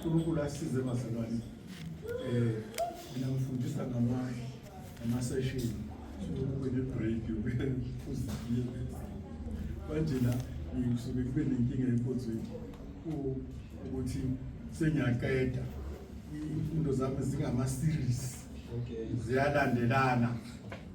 uNkulunkulu asize bazalwane eh mina ngifundisa ngama ama session ukube ne break uzifike manje la ngisuke kube nenkinga enkonzweni ukuthi sengiyaqeda imfundo zami zingama series okay ziyalandelana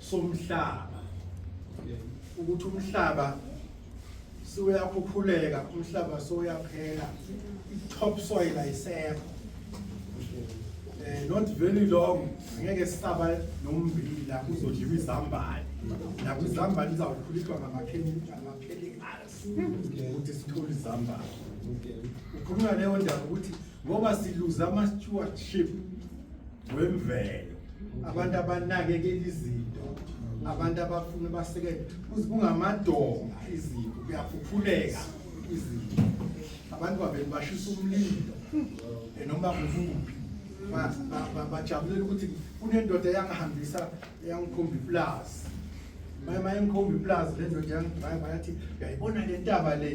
somhlaba ukuthi umhlaba suyakhukhuleka umhlaba soyaphela i-top soil ayisekho eh not very long ngeke sisaba nommbila kuzodliwa izambane la kwizambane izawukhulitwa ngamakhemikhali ukuthi sithole izambane ukhuluma leyo ndaba ukuthi ngoba siluza ama stewardship wemvelo abantu abanakekela izinto abantu abafuna basekele kuze kungamadonga izinto kuyaphuphuleka izinto abantu babeni bashisa umlilo noma kuvuphi bajabulela ukuthi kunendoda eyangihambisa eyangikhomba iplazi mayengikhomba iplazi le ndoda yangidrayiva yathi uyayibona le ntaba le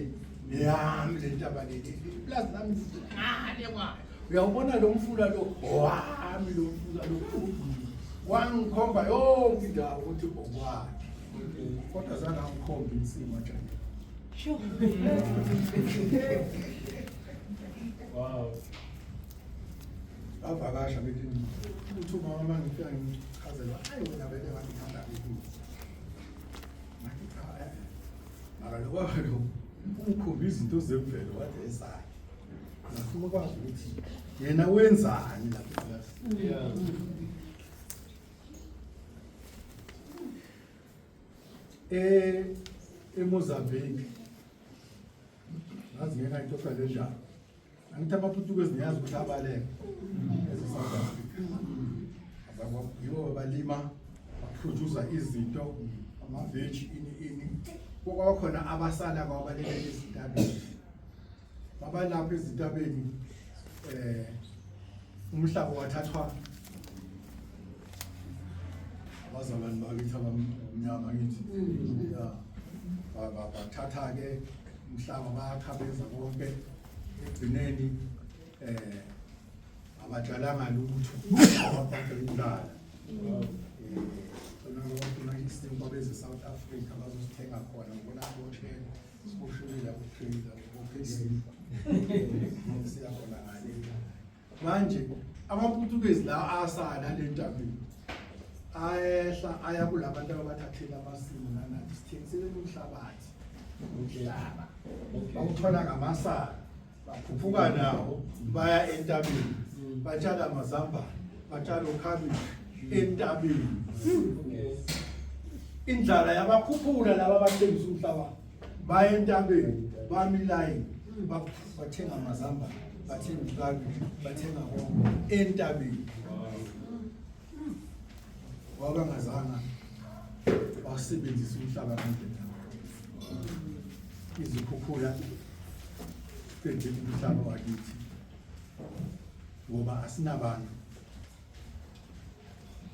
yami le ntaba leli ipulazi lami ngale kwayo uyawubona lo mfula lo wami lo mfula lo wangikhomba yonke indawo ukuthi okwakhe kodwa zangangikhomba insima njani wow bavakasha bethi uthi umama uma ngifika ngichazela ayi wena bebe ngangithanda ukuthi Makalokho ukhomba izinto zemvelo kade ezayo. Ngifuna ukwazi ukuthi yena wenzani lapha ekilasini. Eh eMozambique. Ngazi ngeke ayixoxa le ndaba. angithi amaputukezi niyazi ukuthi abaleka eze-south africa yibo balima baprodusa izinto amaveji ini ini kwakhona abasala kwabaleka ezintabeni babalapho ezintabeni um umhlaba wathathwa abazalwane bakithi abamnyama ngithi mm. bathatha-ke umhlaba bayakhabeza konke ekugcineni eh abatshalanga lutho ababhaqelala eh khona abafuna isinto babeze South Africa bazosithenga khona ngibona aboshela sikushulile ukuphila ukuphila siyakhona ngale manje amaputukezi la asala le ntabeni ayehla aya kula bantu ababathathela amasimu nanathi sithengisele umhlabathi udlelaba bawuthola ngamasala baphuphuka nawo baya entabeni batshala amazambane batshala okhabishi entabeni indlala yabakhuphula laba abathengisa umhlabathi baya entabeni bami ilayini bathenga amazamba bathenga ukabishi bathenga konke entabeni wabangazanga wasebenzisa umhlaba ngendlela izikhukhula senzile umhlaba wakithi ngoba asinabantu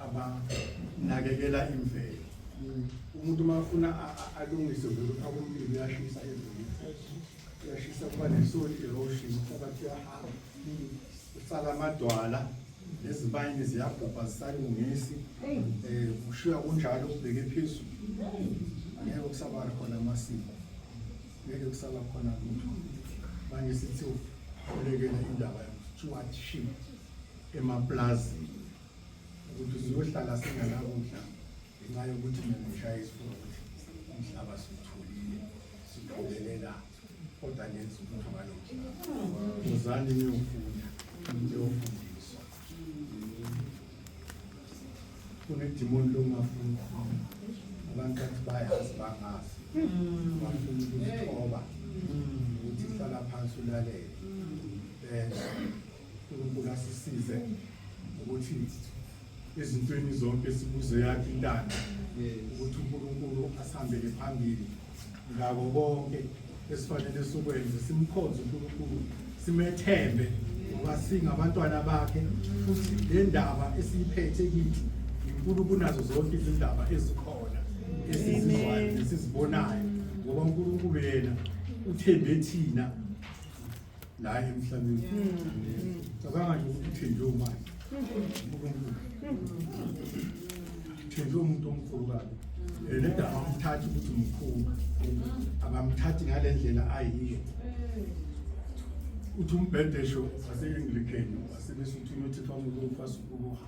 abanakekela imvelo umuntu uma afuna alungise vele ufaka umlilo uyashisa ezulu uyashisa kuba ne-soil erosion umhlabathi uyahamba usala amadwala nezibayini ziyabhubha zisalungisi um eh, ushiya kunjalo ubheke phezulu angeke kusaba khona amasiko ngeke kusaba khona lutho manje sithi ulekela indaba yokuthiwa shima emaplazini ukuthi siyohlala singanakudla ngenxa yokuthi mina ngishaya isifuba ukuthi umhlaba siwutholile siqokelela kodwa ngenza umuntu ngalo mhlaba uzani niyofunda niyofundiswa kunedimoni longafuni abantu bathi bayazi bangazi mm. bafuna ukuzithoba mm. ukuthi hlala phansi ulalele mm. benza uNkulunkulu asisize ukuthi ezintweni zonke sibuze yakhe intando ukuthi uNkulunkulu asihambele phambili ngako konke esifanele sukwenze simkhonze uNkulunkulu simethembe ngoba singabantwana bakhe futhi le ndaba esiyiphethe kithi inkulu kunazo zonke izindaba ezikhona esizizwayo nesizibonayo ngoba uNkulunkulu yena uthembe thina la emhlabeni cabanga nje ukuthi uthenjwe umali uthenjwe umuntu omkhulu kabi lento abamthathi ukuthi mkhulu abamthathi ngale ndlela ayiyo uthi umbhedesho wase-anglican wasebesuthini uthethwa ngokufa sukukuha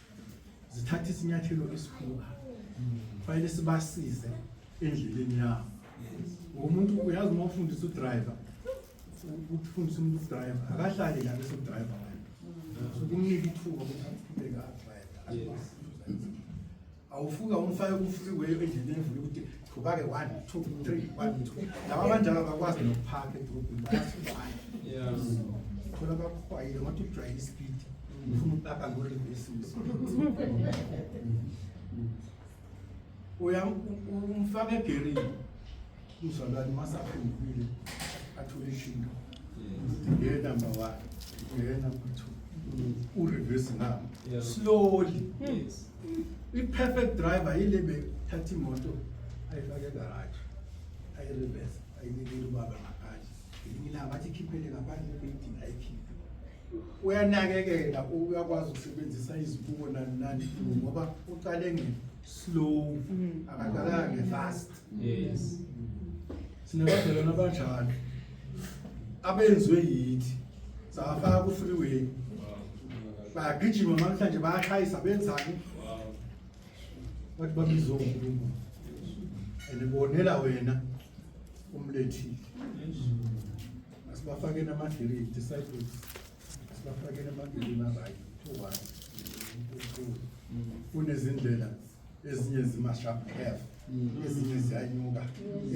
zithatha isinyathelo esikhulu fanele sibasize endleleni yabo umuntu uyazi uma ufundisa udriver ukufundisa umuntu udriver akahlali la bese udriver wena so kumnika ithuba ukuthi aqhubeke adriver awufuka umfake ku-freeway endleleni evule ukuthi Phupha-ke one, two, three, one, two. Laba abanjalo abakwazi nokuphaka edrobhini bayasibaya. Thola bakuhwayile ngothi ujwayele isipidi. Ufuna ukupaka ngorivesisi. Uya umfaka egerini. Uzalwane masaphendukile athole ishinga. Ngeke number one. Ngeke number two. Urivesi nami. Slowly. Yes. I-perfect driver yile bethatha imoto ayifake egaraji ayirivese ayinikele ubaba ngaphandle ngelinye ilanga bathi ikhiphele ngaphandle ebeyidinga ayikhiphe uyanakekela uyakwazi ukusebenzisa izibuko nani nani ngoba ucale nge-slow akaqalanga nge-fast yes sinabadalwana abanjalo abenziwe yithi safaka ku freeway bayagijima namhlanje bayashayisa benzani bathi babizwe uNkulunkulu and bonela wena umlethile asibafake namadili disciples asibafake namadili nabayi to one kunezindlela ezinye zima-sharp curve ezinye ziyanyuka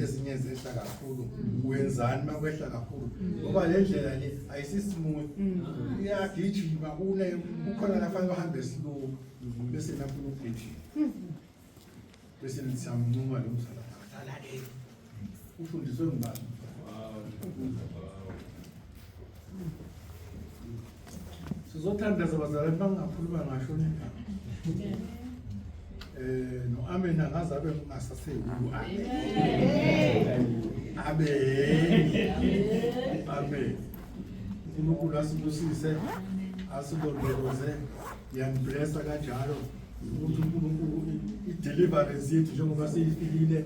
ezinye zehla kakhulu wenzani uma kwehla kakhulu ngoba le ndlela le ayisismooth iyagijima kune kukhona lafanele uhambe slow bese nafuna ukugijima bese nisamncuma lo mzala Ufundiswe ngubani? Sizothandaza bazalwane bangakhuluma ngasho nina. Eh no amen angaze abe ngasaseki. Abe. Amen. uNkulunkulu asibusise asilondoloze yamblessa kanjalo ukuthi uNkulunkulu i-deliverance yethu njengoba siyifikile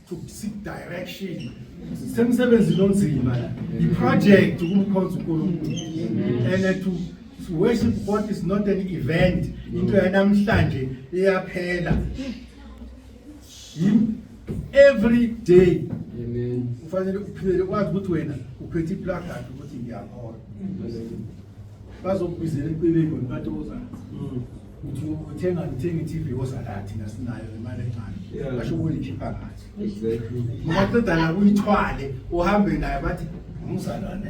to seek direction semsebenzi lonzima the project ukumkhonza uNkulunkulu and to worship God is not an event into yanamhlanje iyaphela every day amen ufanele uphile kwazi ukuthi wena uphethe iplakade ukuthi ngiyakholwa bazokubizela empilweni ngontatozana mm. uthi uthenga uthenga i-TV ozala thina sinayo imali encane Yeah. basho ukuyikhipha ngathi Exactly. ngoba qeda la kuyithwale uhambe naye bathi umzalwane